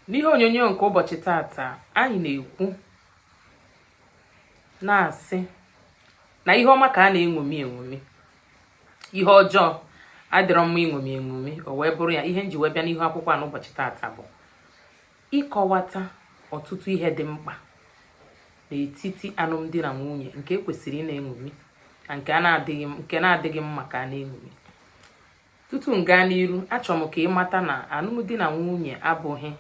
n'ihe onyonyo nke ụbọchị tata anyị na-ekwu na-asị na ihe ọma ka a na-eṅomi eṅomi ihe ọjọọ adịrọ mma iṅomi eṅomi o wee bụrụ ya ihe m ji wee bịa n'ihu akwụkwọ a n'ụbọchị tata bụ ịkọwata ọtụtụ ihe dị mkpa n'etiti alụmdi na nwunye nke e kwesịrị ịna-eṅomi na nke na-adịghị mma ka a na-eṅomi tutu m gaa n'iru achọrọ m ka ị mata na alụmdi na nwunye abụghị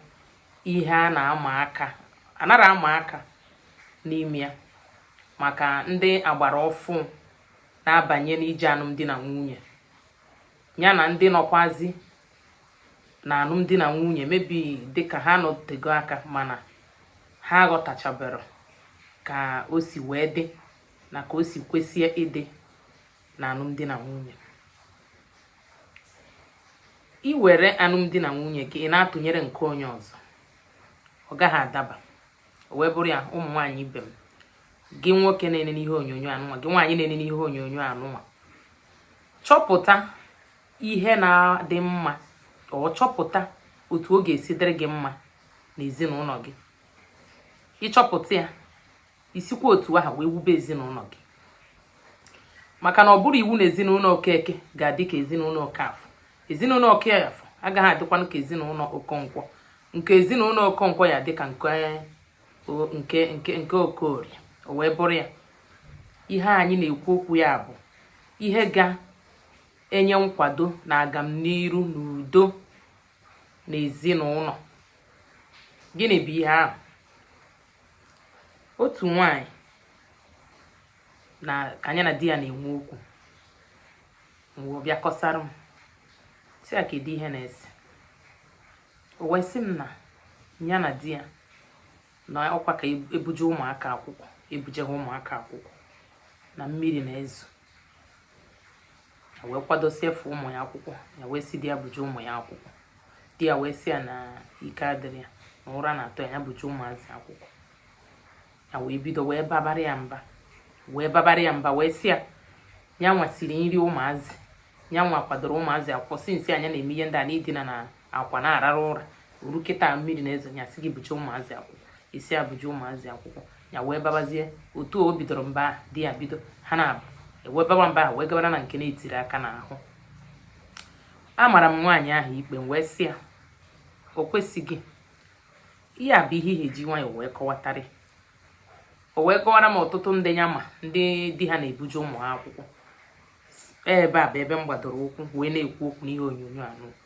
ihe a na-ama aka anara ama aka n'ime ya maka ndị agbara ọfụ na-abanye n'ije alụmdi na nwunye ya na ndị nọkwazi n'alụmdi na nwunye maybe dịka ha nọtego aka mana ha aghọtachabere ka o si wee dị na ka o si kwesịa ịdị na alụmdi na nwunye i were alụmdi na nwunye gị ị na-atụnyere nke onye ọzọ ọ gaghị adaba o wee bụrụ ya ụmụ nwaanyị ibe m gị nwoke na-ene n'ihe onyonyo anụnwa gị nwaanyị na-ene n'ihe onyonyo anụnwa chọpụta ihe na-adị mma or chọpụta otu ọ ga-esi dịrị gị mma n'ezinụlọ gị ị chọpụta ya i sikwa otu ahụ wee wube ezinụlọ gị maka na ọ bụrọ iwu na ezinụlọ okeke ga-adị ka ezinụlọ okafọ ezinụlọ okafọ agaghị adịkwanụ ka ezinụlọ okonkwo nke ezinụlọ okonkwo ya-adị ka nke nke nke okorie o wee bụrụ ya ihe anyị na-ekwu okwu ya bụ ihe ga-enye nkwado na agamniru na udo n'ezinụlọ gịnị bụ ihe ahụ otu nwanyị nke ya na di ya na-enwe okwu wee bịa kọsara m sị ya kedu ihe na-ese o wee sị m na ya na di ya na ọkwa ka e buje ụmụaka akwụkwọ e buje ha ụmụaka akwụkwọ na mmiri na-ezo wee kwadosie efe ụmụ ya akwụkwọ ya wee sị di ya buje ụmụ ya akwụkwọ di ya wee sị ya na ike adịrọ ya na ụra na-atọ ya buje ụmụazị akwụkwọ ya wee bido wee babara ya mba wee babara ya mba wee sị ya ya nwa siri nri ụmụazị ya nwa kwadoro ụmụazị akwụkwọ since ya na-eme ihe ndị a na i dina ana akwa na-arara ụra o ru kịta mmiri na-ezo ya sị gị buje ụmụazị akwụkwọ ị sị ya buje ụmụazị akwụkwọ ya wee babazie otu o bidoro mba ahụ di ya bido ha na-aba wee baba mba ahụ wee gabara na nke na-etiri aka n'ahụ amara m nwaanyị ahụ ikpe m wee sị ya o kwesịghị ihe a bụ ihe e ji nwayọ wee kọwatara ya o wee kọwara m ọtụtụ ndị ya ma ndị di ha na-ebuje ụmụ ha akwụkwọ ebe a bụ ebe m gbadoro ụkwụ wee na-ekwu okwu n'ihe onyonyo a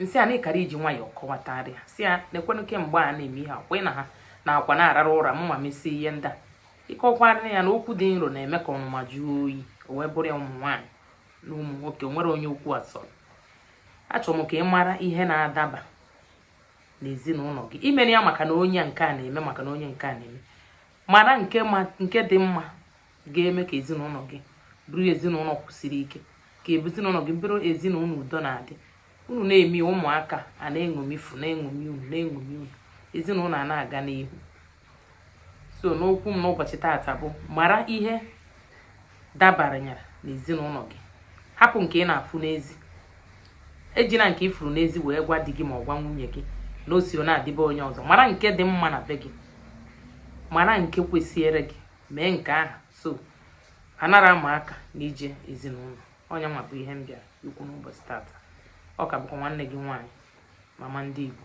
m sị ya na ị kara iji nwayọọ kọwatara ya sị ya nekwanụ kemgbe a na-eme ihe akwa na ha n'akwa na-arara ụra m na-emesi ihe ndị a ị kọkwara ya na okwu dị nro na-eme ka ọnụma jụọ oyi o wee bụrụ ya ụmụ nwaanyị na ụmụ nwoke o nwere onye okwu a so achọrọ m ka ị mara ihe na-adaba n'ezinụlọ gị i mere ya maka na onye nke a na-eme maka na onye nke a na-eme mara nke dị mma ga-eme ka ezinụlọ gị bụrụ ezinụlọ kwụsiri ike ka ezinụlọ gị bụrụ ezinụlọ udo na-adị unu na-eme ụmụaka a na-eṅomifu na-eṅomi unu na-eṅomi unu ezinụlọ a na-aga n'ihu so n'okwu m n'ụbọchị taata bụ mara ihe dabaranyere n'ezinụlọ gị hapụ nke ị na-afụ n'ezi ejina nke ị fụrụ n'ezi wee gwa di gị ma ọ gwa nwunye gị na o si na-adị be onye ọzọ mara nke dị mma na be gị mara nke kwesịrị gị mee nke ahụ so anara ama aka n'ije ezinụlọ ọ ya nwa bụ ihe m bịara ikwu n'ụbọchị tata ọ ka bụkwa nwanne gị nwaanyị mama ndị Igbo